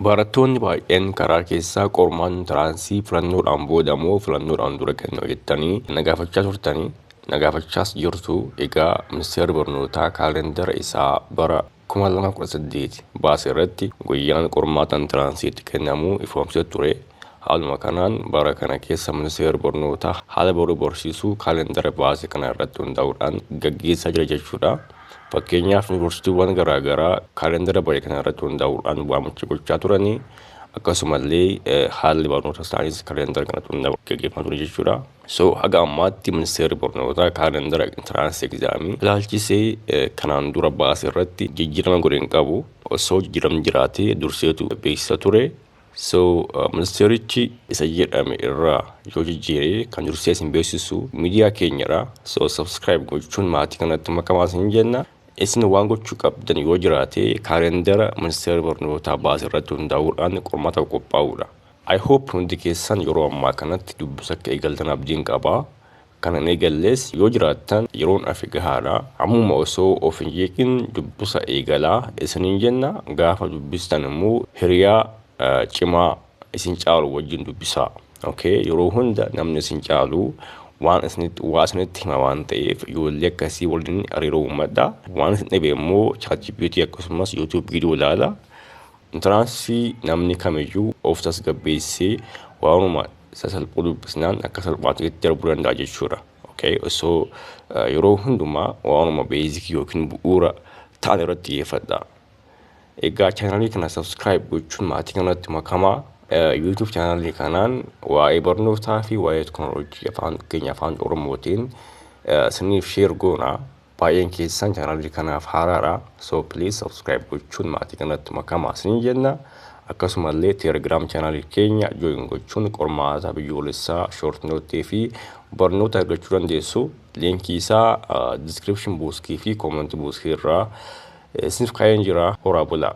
Barattoonni baay'een karaa keessa qormaatni intiraansii filannoodhaan booda moo filannoodhaan dura kennama jettanii na gaafachaa turtanii na gaafachaas jirtu. Egaa Ministeerri Barnootaa kaalendara isaa bara 2018 baase irratti guyyaan qormaata intiraansii itti kennamu ifoomsee ture. Haaluma kanaan bara kana keessa Ministeerri Barnootaa haala baruu barsiisuu kaalendara baase kana irratti hundaa'uudhaan gaggeessaa jira jechuudha. Fakkeenyaaf yuunivarsiitiiwwan garaa garaa kaalendara bare kana irratti hundaa'uudhaan waamicha gochaa turanii akkasumallee haalli barnoota isaaniis kaalendara kanatti hundaa'uudhaan gaggeeffamaa ture jechuudha. So haga ammaatti ministeerri barnootaa kaalendara intiraansii egzaamii ilaalchisee kanaan dura baase irratti jijjiirama godhe hin qabu. Osoo jijjiiramni jiraatee durseetu beeksisa ture. So ministeerichi isa jedhame irraa yoo jijjiire kan dursee isin beeksisu miidiyaa keenyadha. So subscribe gochuun maatii kanatti makamaa isin jenna. Isin waan gochuu qabdan yoo jiraate kaalendara ministeera barnootaa baase irratti hundaa'uudhaan qormaataaf qophaa'uudha. I hope hundi keessan yeroo ammaa kanatti dubbisa akka eegaltan abdiin qaba. Kan hin eegallees yoo jiraattan yeroon afe gahaadha. Ammuma osoo of hin jeeqin dubbusa eegalaa isiniin jenna. Gaafa dubbistan immoo hiriyaa cimaa isin caalu wajjin dubbisaa. ok yeroo hunda namni isin caalu waan isinitti waa isinitti hima waan ta'eef ijoollee akkasii waliin hariiroo uumadha. Waan isin dhibe immoo ChatGPT akkasumas YouTube video ilaala. Intiraansii namni kamiyyuu of tasgabbeessee waanuma sasalphuu dubbisnaan akka salphaatti itti darbuu danda'a jechuudha. Okay? Osoo uh, yeroo hundumaa waanuma beezikii yookiin bu'uura ta'an irratti xiyyeeffadha. Egaa chaanalii kana subscribe gochuun maatii kanatti makamaa uh, YouTube chaanalii kanaan waa'ee barnootaa fi waa'ee teknooloojii afaan keenya afaan Oromootiin uh, siniif sheer goona. Baay'een keessan channel kanaaf haaraadha. So please subscribe gochuun maatii kanatti makamaa isiniin jenna. Akkasuma illee Telegram channel keenya join gochuun qormaata biyyoolessaa short note fi barnoota argachuu dandeessu. Linkii isaa description buuskii fi comment buuskii irraa isiniif kaa'een jira. Horaa bulaa.